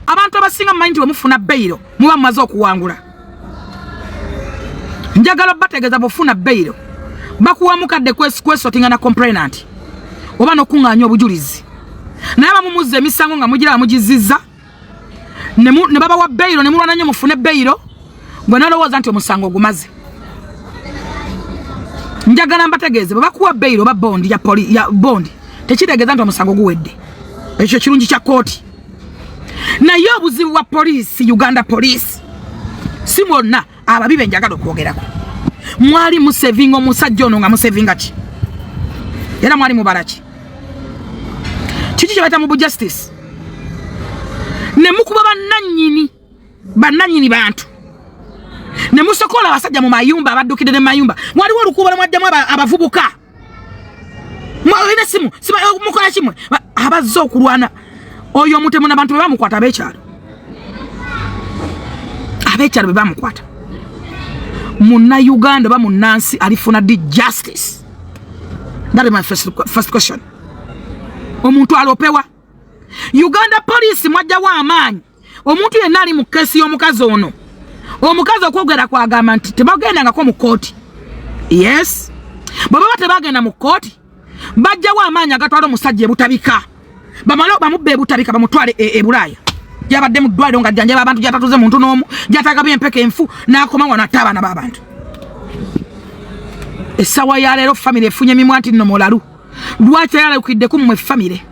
abantu abasinga mumanyi nti wemufuna beyiro muba mumaze okuwangula njagala bategeeza bwofuna beyiro bakuwa mukadde kwesotinga na complainant oba nokuŋŋaanya obujulizi naye bamumuzza emisango nga mugira bamugizizza ne babawa beyiro ne mulwana nnyo mufune beyiro gwe nolowooza nti omusango gumaze njagala mbategeeze bwe bakuwa beyiro oba bondi ya poli ya bondi tekitegeeza nti omusango guwedde ekyo kirungi kya kooti naye obuzibu bwa poliisi uganda poliisi si mwonna ababi be njagala okwogerako mwali musevinga omusajja ono nga musevinga ki era mwali mubala ki kiki kyebayita mu bujustice ne mukuba bannannyini bannannyini bantu ne musokola abasajja mu mayumba abaddukidde ne mayumba waliwo olukuubala mwaddamu abavubuka mwalina simu mukola kimwe abazze okulwana oyo omutemu nabantu bebamukwata abekyalo abekyalo bebamukwata muna uganda oba munansi alifuna di justice that is my first, first question omuntu alopewa uganda police mwajjawo amaanyi omuntu yenna ali mu kesi y'omukazi ono omukazi okwogera kwagamba nti tebagendangako mu kooti yes bwe baba tebagenda mu kooti bajjawo amaanyi agatwala omusajja ebutabika bamale bamubba ebutabika bamutwale e, ebulaaya gyabadde mu ddwaliro nga jjanjaba abantu gyatatuze muntu n'omu gyatagaba empeka enfu n'akoma wano atte abaana b'abantu essaawa ya leero famiry efunye mimwa nti nno mulalu lwaki tayalukidde ku mmwe famire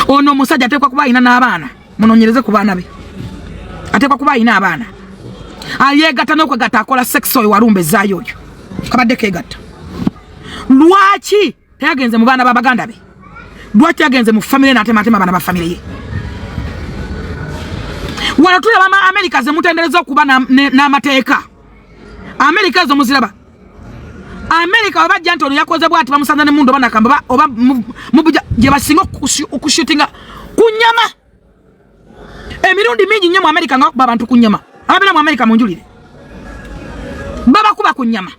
ono omusajja ateekwa kuba alina n'abaana munonyereze ku baana be ateekwa kuba alina abaana ayeegatta n'okwegatta akola sekisi oyo walumba ezaayo oyo kabadde keegatta lwaki teyagenze mu baana ba baganda be lwaki yagenze mu famire natematema abaana ba famire ye wano tulaba ama amerika zemutendereza okuba n'amateeka na amerika ezo muziraba amerika webajja nti ono yakoze bwati bamusanza ne mundu oba nakamba oba mubuja gye basinga okushutinga ku nyama emirundi mingi nnyo mu amerika nga bakuba abantu ku nyama ababeera mu amerika munjulire babakuba ku nyama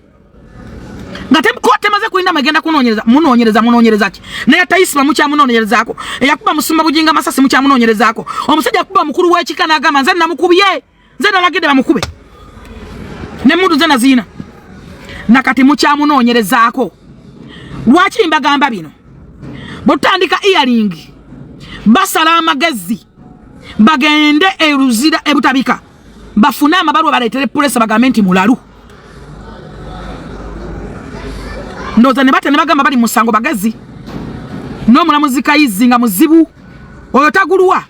nga temaze kulinda magenda kunonyereza munonyereza munonyereza ki naye tayisima mukyamunonyerezaako eyakuba musumba bujinga masasi mukyamunonyerezaako omusajja akuba mukulu w'ekika n'agamba nze namukubye nze nalagidde bamukube ne mundu nze naziina nakati mukyamunoonyerezaako lwaki mbagamba bino bwetutandika earing basala amagezi bagende eruzira ebutabika bafune amabalwa baleetere pulesa bagambe nti mulalu ndoza ne batya ne bagamba bali musango bagezi n'omulamuzi kayizi nga muzibu oyo tagulwa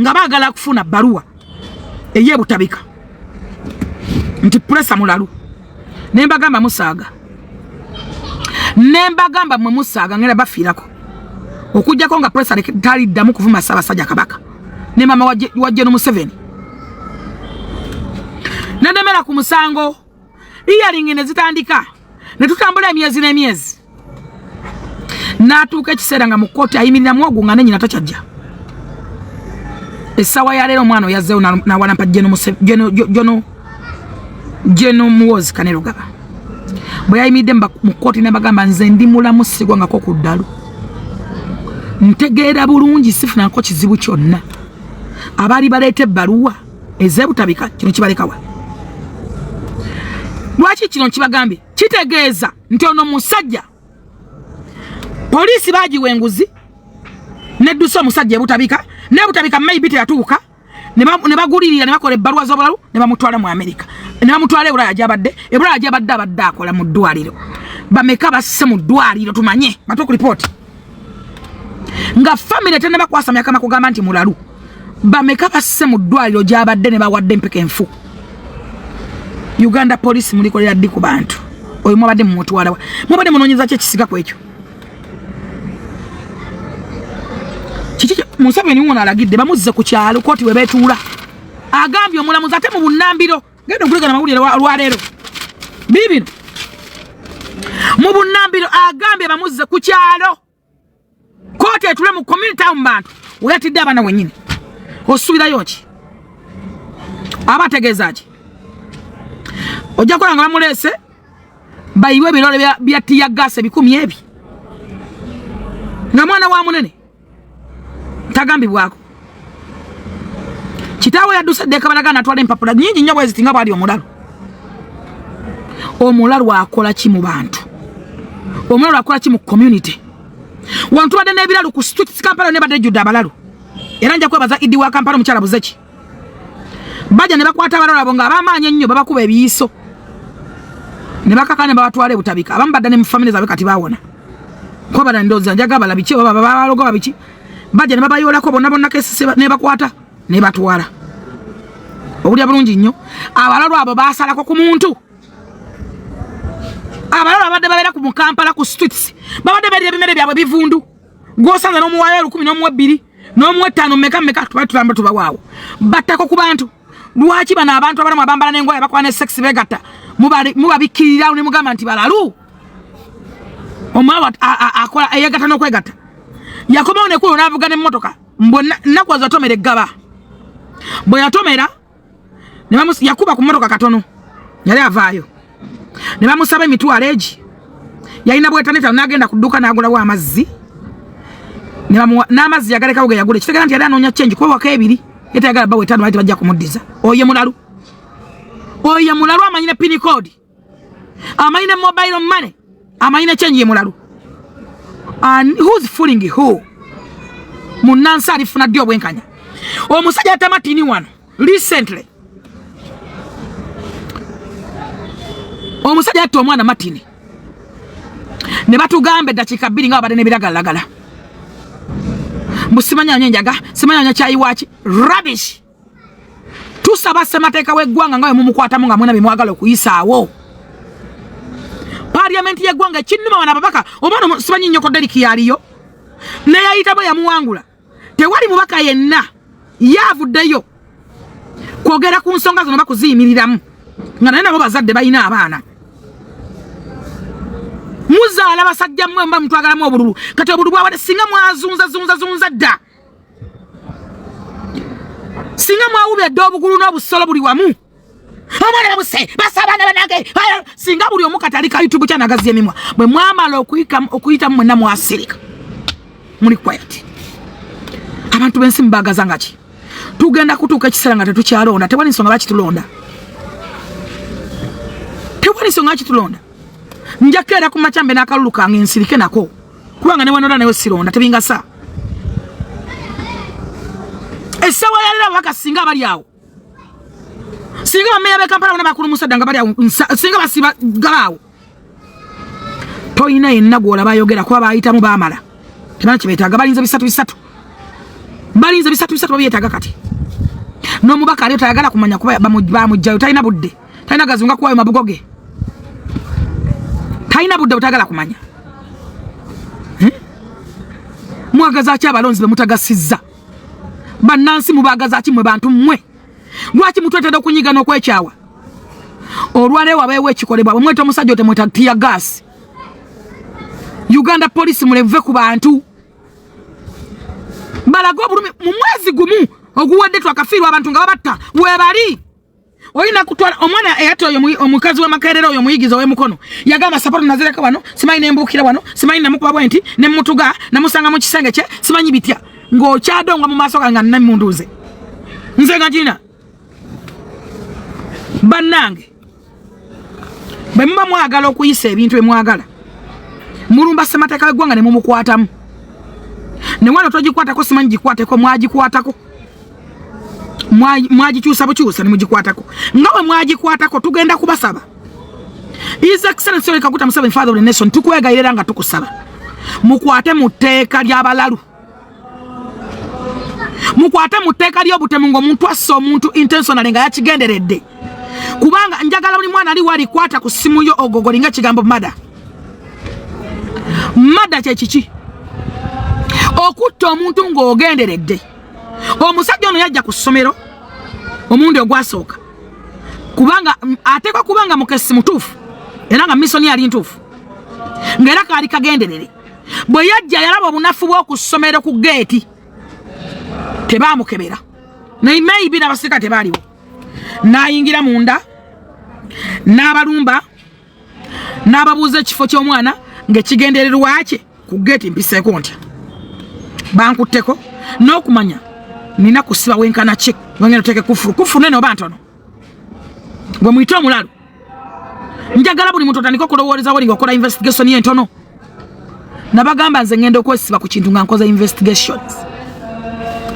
nga bagala kufuna baruwa eye butabika nti presa mulalu nembagamba musaaga nembagamba mwe musaaga ngera bafiirako okujjako nga presa taliddamu kuvuma ssaabasajja kabaka ne mama wajje nomuseveni nenemera ku musango iyalingi ne zitandika ne tutambula emyezi n'emyezi n'atuuka ekiseera nga mu kkooti ayimiriramu ogwo nga nenyina takyajja essaawa ya leero omwana oyazzeewo nawalampa jono jeno muwozi kanerugaba bwe yayimiridde mu kkooti nabagamba nze ndi mulamu sigwangako ku ddalu ntegeera bulungi sifunako kizibu kyonna abaali baleeta ebbaluwa eze butabika kino kibalekawa lwaki kino nkibagambye kitegeeza nti ono musajja poliisi baagiwa enguzi neddusa omusajja ebutabika naye butabika maybe teyatuuka ne bagulirira ne bakola ebbaluwa z'obulalu ne bamutwala mu amerika ne bamutwala ebulaya gyabadde ebulaya gyabadde abadde akola mu ddwaliro bameka basse mu ddwaliro tumanye batuku lipooti nga famire tenaba kwasamya kama kugamba nti mulalu bameka basse mu ddwaliro gyabadde ne bawadde empeka enfu uganda police mulikolera ddi ku bantu oyo mwabadde mumutwalawa mwabadde munonyeza ki ekisiga ku ekyo kiki museveni wona alagidde bamuzze ku kyalo koti webetuula agambye omulamuzi ate mu bunambiro genda okuleka namawulire olwaleero biibino mu bunambiro agambye bamuzze ku kyalo kooti etule mu community mu bantu weyatidde abaana wenyini osuubirayo ki aba ategeeza ki ojja kukola nga bamuleese bayiwe ebirole bya tiyagaasi ebikumi ebi nga mwana wa munene tagambibwako kitaawe yadduse ddeeka balaga natwala empapula nyingi nnyo bweziti nga bwali omulalu omulalu akola ki mu bantu omulalu akola ki mu community wantubadde n'ebiralu ku streets kampala nebadde ejjudde abalalu era nja kwebaza idi wa kampala omukyala buzeki baja ne bakwata abalala abo nga abamaanyi ennyo babakuba ebiyiso ne bakaka ne babatwala ebutabika abamu badda ne mu famire zaabwe kati bawona kuba bala ndooza njaga bala biki oba babaloga babiki baja ne babayoolako bonna bonna kesise ne bakwata ne batwala obulya bulungi nnyo abalalo abo basalako ku muntu abalalo abadde babeera ku mukampala ku streets babadde balya ebimere byabwe bivundu gwosanze nomuwayo olukumi nomuwa ebbiri nomuwa ettaano meka meka tuba tulamba tubawaawo battako ku bantu lwaki bano abantu abalamu abambala nengoye bakola ne sex begatta mubabikkirirawo ne mugamba nti balalu omwawa akola eyegatta nokwegatta yakomawo nekulo navuga nemmotoka mbwe nakuwaza tomera eggaba bwe yatomera ne bamus yakuba ku motoka katono yali avaayo ne bamusaba emitwalo egi yalina bwetaneta nagenda ku dduuka n'agulawo amazzi n'amazzi yagalekawo ge yagula ekitegera nti yali anoonya chengi kuba waka ebiri yetayagala bawe etaano bali tebajja kumuddiza oyo mulalu oyo mulalu amanyi ne pini koodi amanyi ne mobile money amanyi ne change yemulalu and who's fooling who munansi alifuna ddi obwenkanya omusajja atamatini wano recently omusajja atta omwana matini ne batugamba eddakiika bbiri nga babadde nebiragalagala mbu simanyanya enjaga simanyanya kyayiwaaki rubbish tusaba ssemateeka w'eggwanga nga wemumukwatamu nga mwena bemwagala okuyisaawo paliamenti y'eggwanga ekinnuma bano ababaka oba no simanyi nnyoko deriki yaliyo neyayitamu yamuwangula tewali mubaka yenna yaavuddeyo kwogera ku nsonga zino bakuziyimiriramu nga naye nabo bazadde balina abaana muzaala basajja mmwe muba mutwagalamu obululu kati obululu bwabade singa mwazunzazunzazunza dda singa mwawubya dda obugulu n'obusolo buli wamu omwana babuse basa abaana banange singa buli omu katali ka youtube kyanagazi emimwa bwe mwamala okuyitamu mwenna mwasirika muli quiet abantu b'ensi mubagaza nga ki tugenda kutuuka ekiseera nga tetukyalonda tewali nsonga bakitulonda tewali nsonga kitulonda njakeera ku macambe n'akalulu kange nsirike nako kubanga newanora nayo sironda tebingasa esawa yalira waka singa bali awo singa bameya bekampala bona bakulu musadda nga bali awo singa basiba galaawo toyina yenna gwolaba ayogera kuba bayitamu bamala tebana kyebetaaga balinza bisatu bisatu balinza bisatu bisatu babyetaaga kati n'omubaka aliyo tayagala kumanya kuba bamugjayo talina budde talina gazunga kuwayo mabugo ge talina budde butagala kumanya hmm? mwagaza ki abalonzi bemutagasizza bannansi mubagaza ki mwe bantu mmwe lwaki mutwetera okunyiga n'okwekyawa olwaleero wabeewo ekikolebwa bwemweta omusajja otemweta tiya gaasi uganda polisi muleve ku bantu balage obulumi mu mwezi gumu oguwadde twakafiirwa abantu nga babatta webali olina kutwala omwana eyata oyo omukazi wamakerera oyo omuyigizi owemukono yagamba sapato nazireka wano simanyi nembuukira wano simanyi namukuba bwenti nemutuga namusanga mukisenge kye simanyi bitya ngaokyadonga mu maaso gange nanemundu nze nze nga gina bannange bwe muba mwagala okuyisa ebintu bemwagala mulumba semateeka wegwanga nemumukwatamu newano togikwatako simanyi gikwateko mwagikwatako mwagikyusa bukyusa nemugikwatako nga bwe mwagikwatako tugenda kubasaba His Excellency Yoweri Kaguta Museveni Father of the Nation tukwegayirira nga tukusaba mukwate mu tteeka ly'abalalu mukwate mu tteeka ly'obutemu ng'omuntu asse omuntu intentionally nga yakigenderedde kubanga njagala buli mwana ali walikwata ku ssimu yo ogogoli nga ekigambo mada mada kyekiki okutta omuntu ng'ogenderedde omusajja ono yajja ku ssomero omundi ogwasooka kubanga ateekwa kubanga mukesi mutuufu era nga misoni yali ntuufu ng'era kaali kagenderere bwe yajja yalaba obunafu bw'oku ssomero ku geeti tebaamukebera naye maybe n'abasirika tebaaliwo n'ayingira munda n'abalumba n'ababuuza ekifo ky'omwana ng'ekigendererwa kye ku geeti mpiseeko ntya bankutteko n'okumanya nina kusiba wenkana ki wengenda oteeke kufulu kufulu nene oba ntono gwe muyite omulalu njagala buli muntu otandika okulowooleza woli ngaokola investigation entono nabagamba nze ngenda okwesiba ku kintu nga nkoza investigations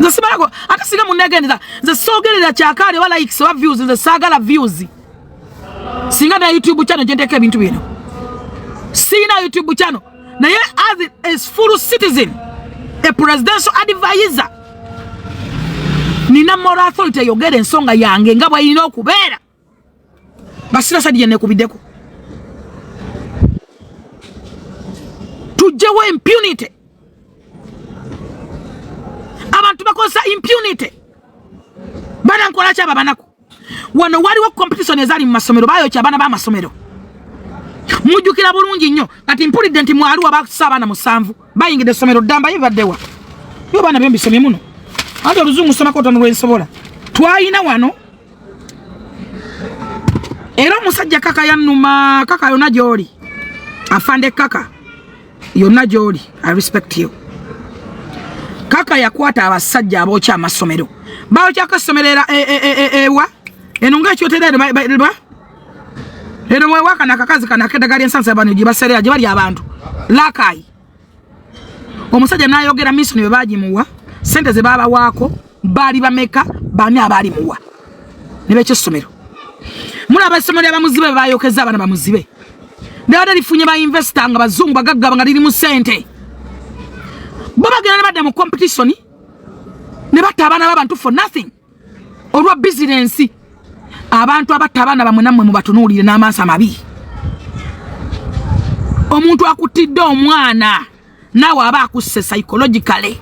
nze simalako ate singa munegendeza nze soogerera kyakaali oba likes oba views nze saagala views singa na youtube channel gyenteka ebintu bino sirina youtube channel naye as a full citizen a presidential advisor nina moral authority eyogera ensonga yange nga bweyina okubeera basira sadi yenekubiddeko tujjewo impunity abantu bakozesa impunity bana nkolaki abo abanaku wano waliwo competition ezali mu masomero bayokya abaana b'amasomero mujjukira bulungi nnyo kati mpulidde nti mwaliwo bakusa abaana musanvu bayingidde essomero ddamba ye bibaddewa yo baana byembisomye muno anti oluzungu somako otono lwensobola twalina wano era omusajja kaka yanuma kaka yona gyoli afande kaka yonna gy'oli i respect you kaka yakwata abasajja abookya amasomero baokyako essomero era e, e, e, ewa eno nga ekyotera enoba eno mwewakana akakazi kano akedagala ensansa bano gye baserera gye bali abantu lakayi omusajja nayogera misoni bwe bagimuwa sente ze babawaako baali bameka baani abaali muwa ne bekyessomero mulaba essomo lya bamuzibe bwe bayokeza abaana bamuzibe nebadde lifunye bainvesita nga bazungu bagaggaba nga lirimu sente bo bagenda ne badda mu competitioni ne batta abaana babantu for nothing olwa bizinensi abantu abatta abaana bamwe nammwe mubatunuulire n'amaaso amabi omuntu akuttidde omwana naawe aba akusse psychologically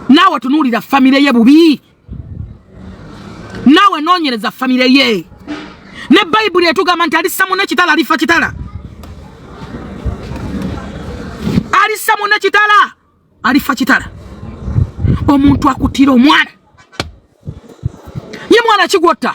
naawe tunuulira famire ye bubi naawe noonyereza famire ye ne bayibuli etugamba nti alissa mune kitala alifa kitala alissa mune kitala alifa kitala omuntu akutira omwana ye mwana kigwotta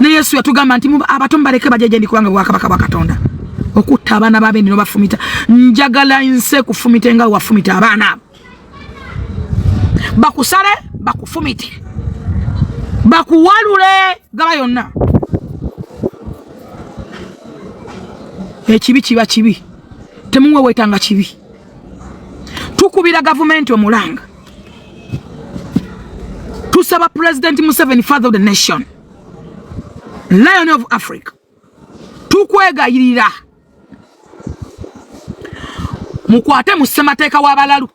ne yesu yatugamba nti abato mubaleke bajeje ndi kubanga bwakabaka bwa katonda okutta abaana babendi nobafumita njagala nse kufumite nga wafumita abaana abo bakusale bakufumite bakuwalule gaba yonna ekibi kiba kibi temuwewetanga kibi tukubira gavumenti omulanga tusaba president museveni father of the nation lion of africa tukwegayirira mukwate mu ssemateeka w'abalalu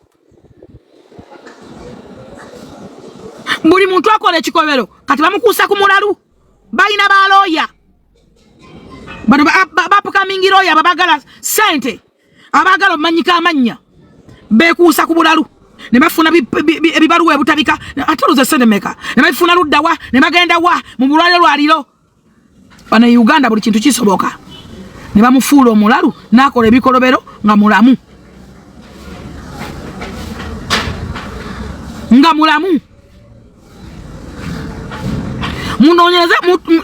buli muntu akola ekikobero kati bamukuusa ku mulalu balina balooya bano bapukamingi looya babagala sente abaagala omanyika amannya beekuusa ku bulalu ne bafuna ebibaluwa ebutabika ate luze sente meka ne bafuna ludda wa ne bagenda wa mu bulwaliro lwaliro bana uganda buli kintu kisoboka ne bamufuula omulalu n'akola ebikolobero nga mulamu nga mulamu munonyereze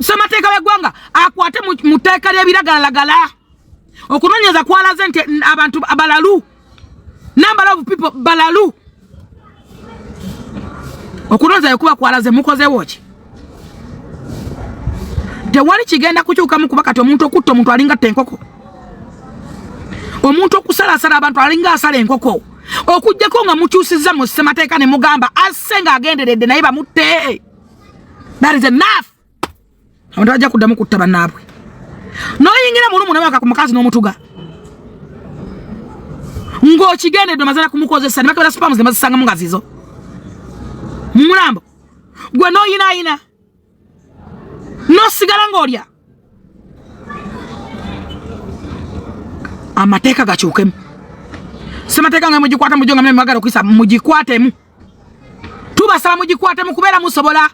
semateeka w'eggwanga akwate mu tteeka ly'ebiragalalagala okunonyeza kwalaze nti abantu balalu number of people balalu okunonyeza yokuba kwalaze mukozewo ki tewali kigenda kukyukamu kuba kati omuntu okutta omuntu alinga tta enkoko omuntu okusalasala abantu alinga asala enkoko okujjako nga mukyusiza mu ssemateeka ne mugamba asse nga agenderedde naye bamutte that is enough abantu bajja kuddamu kutta bannaabwe noyingira mulumu nabaka ku mukazi n'omutuga ng'okigendedde omazala kumukozesa nebakebera spamu zemazisangamu nga zizo mumulambo gwe noyinayina nosigala ng'olya amateeka gakyukemu semateeka nga mugikwata mujo nga mwe mwagala okuyisa mugikwatemu tubasaba mugikwate mu kubeera musobola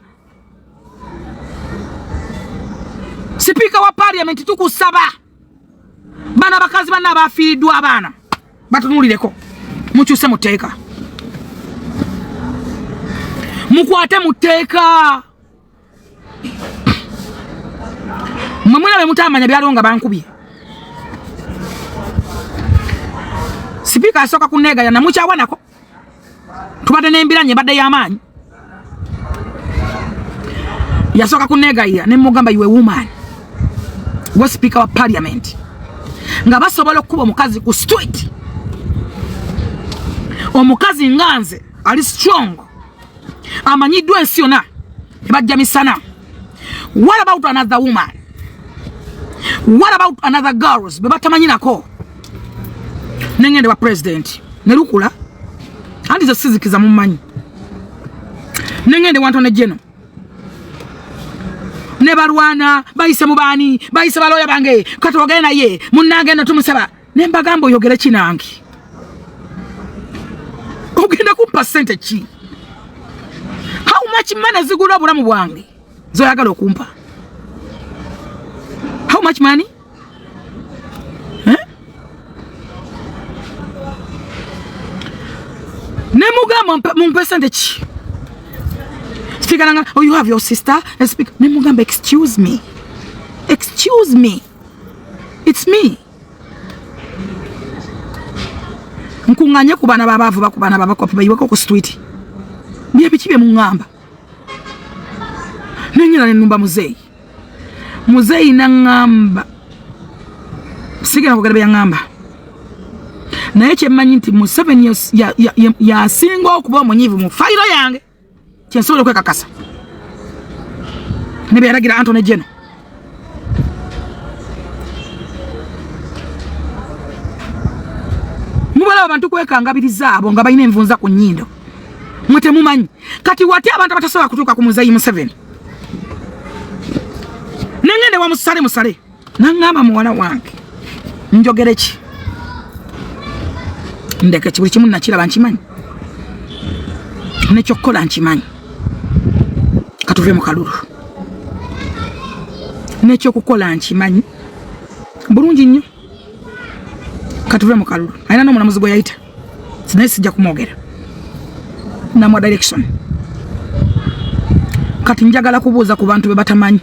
sipiika wa paliamenti tukusaba bano abakazi banna abafiiriddwa abaana batunulireko mukyuse mu tteeka mukwate mu tteeka mwe mulabe mutamanya byaliwo nga bankubye sipiika asooka kuneegaya namukyawanako tubadde n'embiranye ebadde y'amaanyi yasooka kuneegayira ne mugamba iwe woman gwe sipiika wa parliament nga basobola okukuba omukazi ku street omukazi nga nze ali strong amanyiddwa ensi yona nebajja misana what about another woman what about another girls bebatamanyinako nengende wa president nelukula anti zesizikiza mumanyi nengende wantone jeno nebalwana bayise mubaani bayise baloya bange katwogere naye munange no tumusaba ne mbagamba oyogere ki nange ogenda kumpa sente ki how much money zigula obulamu bwange zoyagala okumpa how much money eh? ne mugamba mumpe sente ki speaker nanga oh you have your sister and speak ne mugamba excuse me excuse me it's me nkunganye ku baana babaavu baku baana babakopi bayiweko ku street byebiki bye muŋŋamba nenyera nenumba muzeeyi muzeeyi naŋŋamba sigenda kwogera byeyaŋŋamba naye kyemmanyi nti museveni yasinga okuba omunyivu mu fayiro yange kyensobola okwekakasa ne beyalagira antony jeno mubalaba abantu kwekangabiriza abo nga balina envunza ku nyindo mwe temumanyi kati wati abantu abatasobola kutuuka ku muzeyi museveni nengende wamusale musale nangamba muwala wange njogere ki ndeke kibuli kimu nakiraba nkimanyi nekyokukola nkimanyi katuve mu kalulu nekyokukola nkimanyi bulungi nnyo katuve mu kalulu alina n'omulamuzi gwe yayita naye sijja kumwogera namwa direction kati njagala kubuuza ku bantu bebatamanyi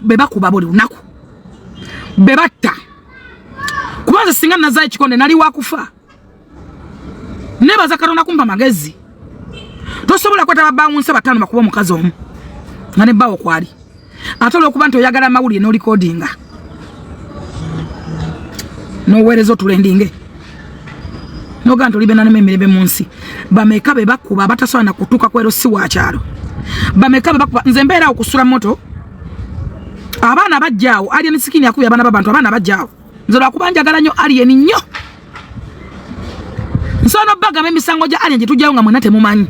bebakuba buli lunaku bebatta kubanza singa nazayo ekikonde nali wakufa nebaza katonda kumpa magezi tosobola kweta babawunsa batano bakuba omukazi omu nga ne bawo kwali ate olwokuba nti oyagala amawulire nolikodinga noweereza otulendinge noga nti olibenanemu emirembe mu nsi bameka be bakuba abatasobola nakutuuka kwero si wakyalo bameka be bakuba nze mbeera awo kusula moto abaana bajjaawo alien sikini akubye abaana babantu abaana bajjaawo nze lwakuba njagala nnyo alien nnyo nsobola nobagamba emisango gya alien gyetujjayo nga mwena temumanyi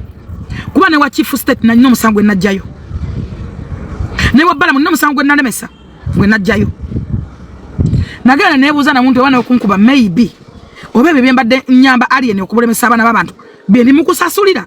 kuba ne wa chief state nalina omusango gwe najjayo ne wa balamu nina omusango gwe nalemesa gwe najjayo nagenda nebuuza namuntu oba nokunkuba maybe oba ebyo byembadde nyamba alien okubulemesa abaana babantu byebimukusasulira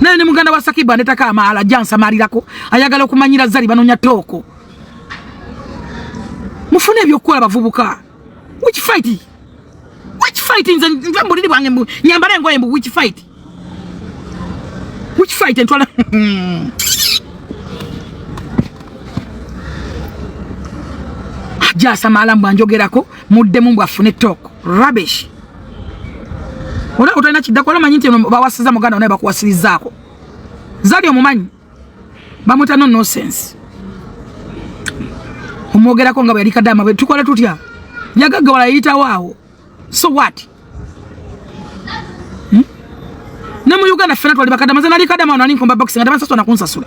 naye ne muganda wa Sakibu anetako amaala jansamalirako ayagala okumanyira zali banonya tooko mufune ebyokukola bavubuka which fight which fight nze nve mbuliri bwange mbu nyambala engoye mbu which fight which fight entwala jasamaala mbu anjogerako muddemu mbu afune tooko rubbish Olaba utayina kiddako olaba manyi nti eno bawasiza muganda onaye bakuwasirizaako. Zali omumanyi bamwita no nonsense. Omwogerako nga bwe yali kadama bwe tukola tutya? Yagagga wala yayitawo awo. So what? Hmm? Ne mu Uganda ffena twali bakadama ze nali kadama wano ali nkomba boxing ate bansasula na kunsasula.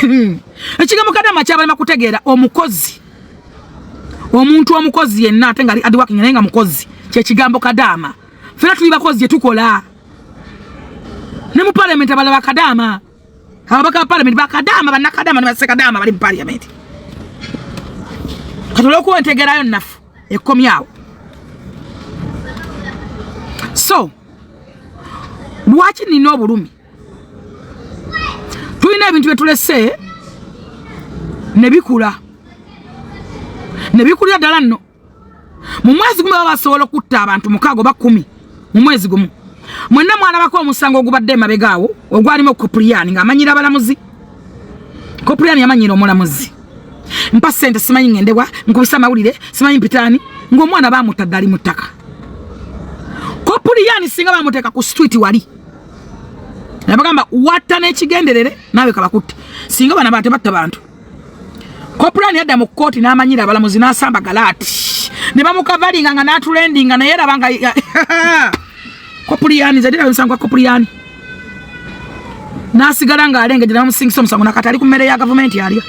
Hmm. ekigambo kadama kyabalema kutegeera omukozi omuntu omukozi yenna ate nga adiwaking naye nga mukozi kyekigambo kadama fena tuli bakozi gyetukola ne mu palamenti abalaba kadama Ababaka ba palamenti bakadaama bannakadaama ne bassekadaama bali mu palamenti kati olwokuba entegerayo nnafu ekkomyawo so lwaki nina obulumi tulina ebintu byetulese ne bikula ne bikulira ddala nno mu mwezi gumu baba basobola okutta abantu mukaaga oba kumi mu mwezi gumu mwenna mwalabako omusango ogubadde emabega awo ogwalimu kopuliyani ng'amanyira abalamuzi kopuliyani yamanyira omulamuzi mpa sente simanyi ngendewa nkubisa amawulire simanyi mpitani ng'omwana bamutta ddali mu ttaka kopuliyani singa bamuteeka ku street wali nabagamba watta n'ekigenderere naawe kabakutte singa bana batebatta bantu kopulani yadda mu kkooti n'amanyira abalamuzi n'asamba galaati ne bamukavalinga nga n'atulendinga naye eraba nga kopuliyani zadira omusango gwa kopuliyani n'asigala ng'alengejera bamusingisa omusango nakati ali ku mmere ya gavumenti alya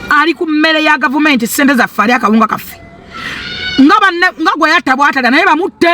ali ku mmere ya gavumenti ssente zaffe ali akawunga kaffe nga gwe yatta bwatalya naye bamutte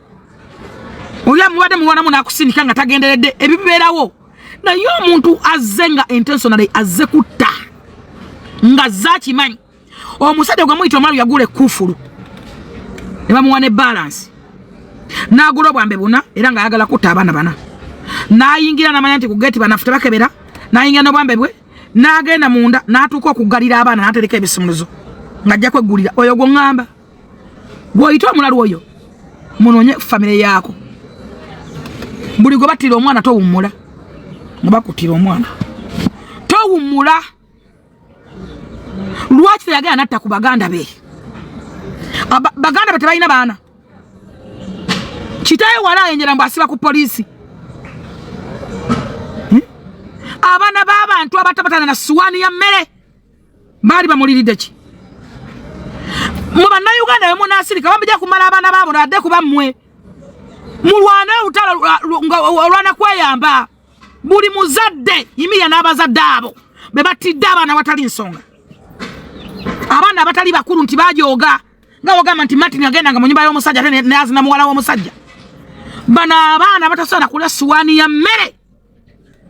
oli amubadde muwanamu nakusindika nga tagenderedde ebibeerawo naye omuntu azze nga intentionally azze kutta nga azze akimanyi omusajja gwe muyita omwalu yagula ekufulu ne bamuwa ne balansi n'agula obwambe buna era ng'ayagala kutta abaana bana n'ayingira n'amanya nti ku geeti banafuta bakebera n'ayingira n'obwambe bwe n'agenda munda n'atuuka okuggalira abaana n'atereka ebisumuluzo ng'ajja kweggulira oyo gwe ŋŋamba gwoyita omulalu oyo munonye famire yaako buli gwe battira omwana towummula nga bakuttira omwana towummula lwaki teyagala natta ku baganda be baganda be tebalina baana kitaye wala ayenjera mbu asiba ku poliisi hmm? abaana b'abantu abatabatana na suwaani ya mmere baali bamuliridde ki mu bannayuganda we munaasirika bamujja kumala abaana baabo nadde kuba mmwe mulwane olutalo olwana kweyamba buli muzadde yimirira n'abazadde abo be battidde abaana watali nsonga abaana abatali bakulu nti bajooga nga wagamba nti martin agendanga mu nyumba y'omusajja ate nazina muwala w'omusajja bano abaana batasobola kulya suwaani ya mmere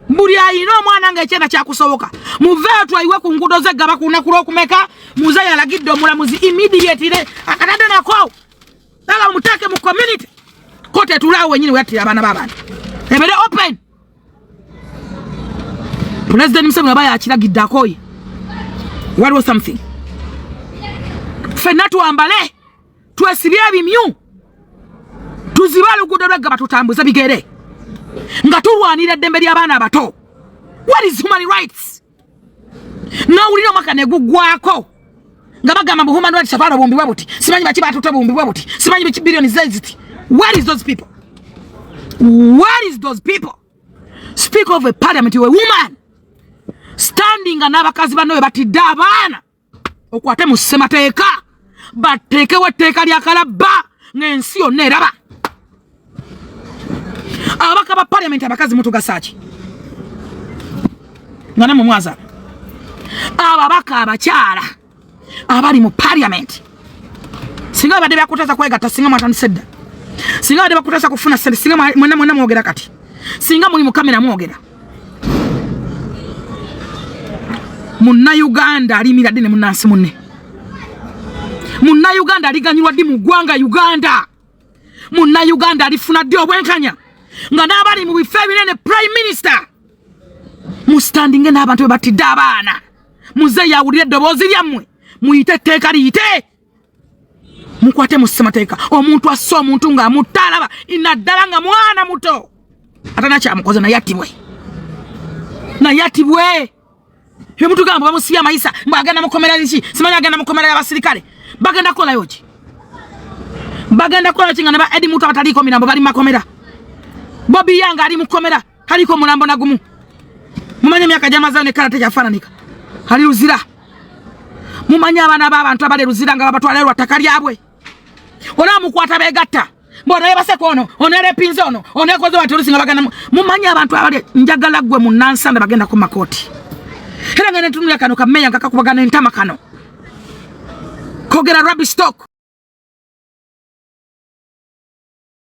buli ayina omwana ngaekyenda kyakusoboka muveeyo twayiwe ku ngudo ze gaba kuna kulwokumeka muze yalagidde omulamuzi immediatire akatadde nako aba mutake mu community ko tetulaawo wenyini weyattira abaana babantu ebere open pulezidenti museveni aba yakiragidde akoye waliwo something fenna twambale twesibye ebimyu tuzibe oluguudo lweggaba tutambuze bigere nga tulwanira eddembe ly'abaana abato what is human rights nowulira omwaka neguggwako nga bagamba mbu human rights abaana bumbibwa buti simanyi baki batute bumbibwa buti simanyi biki billioni zeziti where is those people where is those people speak of a parliament a woman standinga n'abakazi banno be batidde abaana okwate mu ssemateeka bateekewo etteeka lya kalabba ng'ensi yonna eraba ababaka ba parliament abakazi mutugasaaki nga namwe mwaza ababaka abakyala abali mu parliament singa babadde bakutaza kwegatta singa mwatandise dda singa babadde bakutaza kufuna sente singa mwena mwogera kati singa muli mukamera mwogera munnayuganda alimira ddi ne munnansi munne munnayuganda aliganyirwa ddi mu ggwanga uganda munnayuganda alifuna ddi obwenkanya nga n'abali mu bifo ebinene prime minister musitandinge n'abantu be batidde abaana muzeeyi awulire eddoboozi lyammwe muyite etteeka liyite mukwate mu ssemateeka omuntu asse omuntu nga amutalaba inaddala nga mwana muto atana kyamukoze naye atibwe naye atibwe byemutugamba bamusiya amayisa mbu agenda mukomera liki simanyi agenda mukomera yabasirikale bagenda kukolayo ki bagenda kukolayo ki nga neba edi mutu abataliiko mirambo bali mumakomera bobi yanga ali mukomera kaliko mulambo na gumu mumanye emyaka gyamazeyo nekala tekyafaananika ali luzira mumanye abaana b'abantu abali luzira nga babatwala lwa ttaka lyabwe olaba mukwata begatta mbona yebaseko ono ono erepinze ono ono ekoze wati olusinga bagana mumanye abantu abali njagala gwe munansanda bagenda ku makooti era nga netunulira kano kameya nga kakubagana entama kano kogera rabi stock